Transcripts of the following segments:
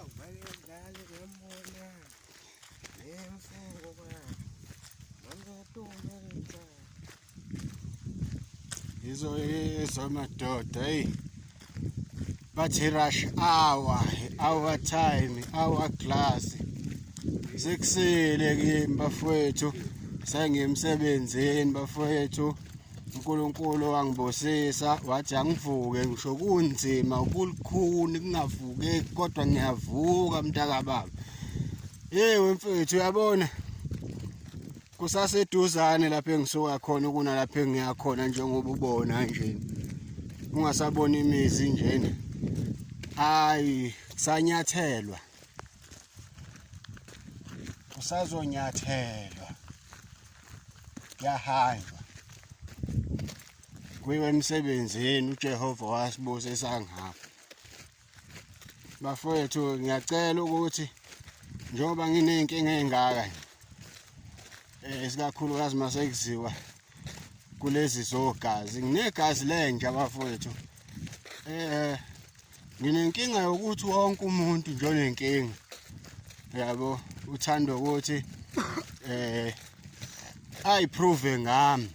Awubalekali ngembona nemfungo ba ngamatumelisa yizo yizo madoda eyi bathi rush hour hour time hour class sekusile kimi bafowethu sengimsebenzini bafowethu uNkulunkulu wangibusisa wathi angivuke ngisho kunzima ukulukhuni kungavuke kodwa ngiyavuka mntaka baba yewe mfethu uyabona kusaseduzane lapho engisuka khona kuna lapho engiya khona njengoba ubona nje ungasabona imizi njena hayi kusanyathelwa kusazonyathelwa yahanjwa kuyiwe emsebenzini uJehova wasibusisa ngapha bafowethu ngiyacela ukuthi njengoba nginey'nkinga ey'ngaka eh, isikakhulukazi uma sekuziwa kulezi zogazi nginegazi lenja bafowethu um nginenkinga yokuthi wonke umuntu nje onenkinga yabo uthanda ukuthi eh ayiprove ngami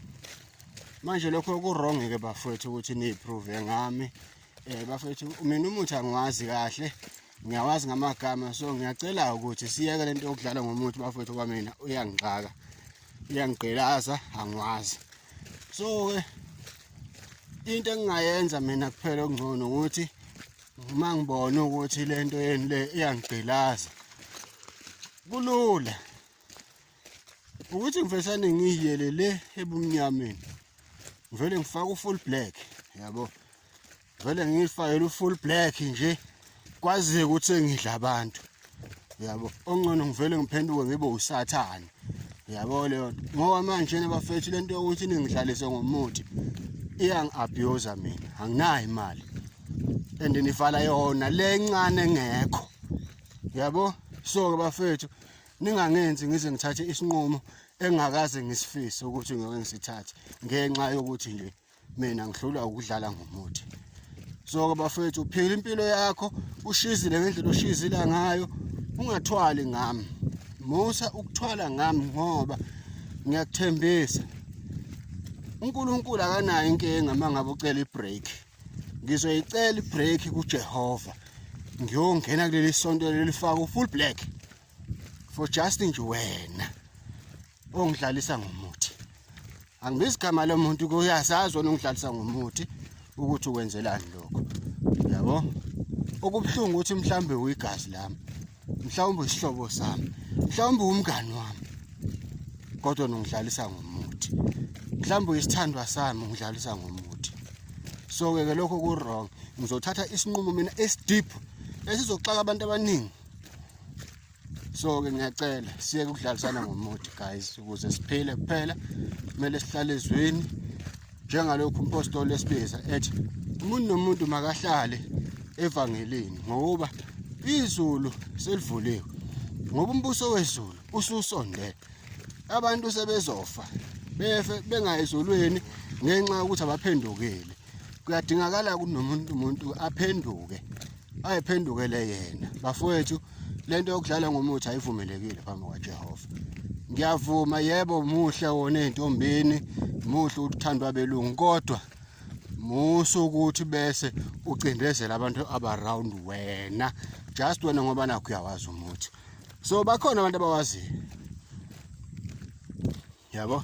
manje lokho ku-wrong ke bafowethu ukuthi niyiprove ngami eh bafowethu mina umuthi angiwazi kahle ngiyawazi ngamagama so ngiyacela ukuthi siyeke lento yokudlala ngomuthi bafowethu kwamina uyangixaka uyangigqilaza angiwazi so ke into engingayenza mina kuphela okungcono ukuthi uma ngibona ukuthi le nto yeni le iyangigqilaza kulula ukuthi ngivesane ngiyiyele le ebumnyameni ngivele ngifake ufull black yabo vele ngiyifakele ufull black nje kwaziye ukuthi engidla abantu yabo ongcono ngivele ngiphenduke ngibe usathane yabo leyo ngoba manje nabafethu lento yokuthi ningidlalise ngomuthi iyangi-abuser mina anginayo imali and nivala yona le ncane ngekho yabo so-ke bafethu ningangenzi ngize ngithathe isinqumo engakaze ngisifise ukuthi ngeke ngisithathe ngenxa yokuthi nje mina ngihlulwa ukudlala ngomuthi so ke bafethu uphila impilo yakho ushizile ngendlela oshizila ngayo ungathwali ngami musa ukuthwala ngami ngoba ngiyakuthembisa uNkulunkulu akanayo inkinga mangabe ucela ibreak ngizoyicela ibreak kuJehova ngiyongena kuleli sonto lelifaka ufull black for just nje wena ongidlalisa ngomuthi angibizi igama lomuntu kuyasazi wena ongidlalisa ngomuthi ukuthi ukwenzelani lokho yabo okubuhlungu ukuthi mhlawumbe uyigazi lami mhlawumbe isihlobo sami mhlawumbe umngani wami kodwa nongidlalisa ngomuthi mhlawumbe uyisithandwa sami ungidlalisa ngomuthi so ke ke lokho ku wrong ngizothatha isinqumo mina esideep esizoxaka abantu abaningi so ke ngiyacela siyeke ukudlalisana ngomuthi guys ukuze siphile kuphela kumele sihlale ezweni njengalokhu umpostoli esibiza ethi umuntu nomuntu makahlale evangelini ngoba izulu selivuliwe ngoba umbuso wezulu ususondele abantu sebezofa befe bengayizulwini ngenxa yokuthi abaphendukile kuyadingakala kunomuntu umuntu aphenduke ayiphendukele yena bafowethu lento yokudlala ngomuthi ayivumelekile phambi kwaJehova ngiyavuma yebo muhle wona entombini muhle uthandwa belungu kodwa musu ukuthi bese ucindezela abantu abaround wena just wena ngoba nakho uyawazi umuthi so bakhona abantu abawaziyo yabo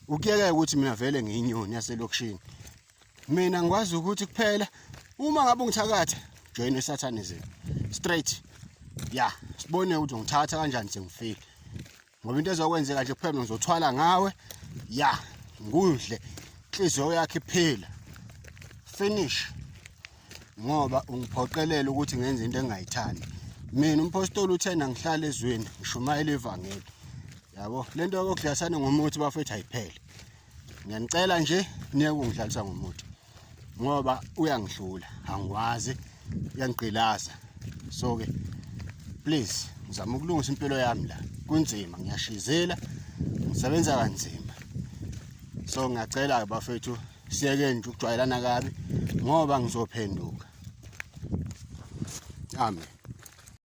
ukuyeke ukuthi mina vele ngiyinyoni yaselokishini mina ngikwazi ukuthi kuphela uma ngabe ungithakatha join esathanism straight ya sibone ukuthi ngithatha kanjani sengifile ngoba into ezokwenzeka nje kuphela ngizothwala ngawe ya ngudle inhliziyo yakhe iphila finish ngoba ungiphoqelela ukuthi ngenze into engayithandi mina umpostoli uthena ngihlala ezweni ngishumayela ivangeli yabo lento yokudlasana ngomuthi bafethu ayiphele ngiyanicela nje niye kungidlalisa ngomuthi ngoba uyangihlula angikwazi uyangigqilaza so ke please ngizama ukulungisa impilo yami la kunzima ngiyashizela ngisebenza kanzima so ngiyacela ke bafethu siyeke nje ukujwayelana kabi ngoba ngizophenduka amen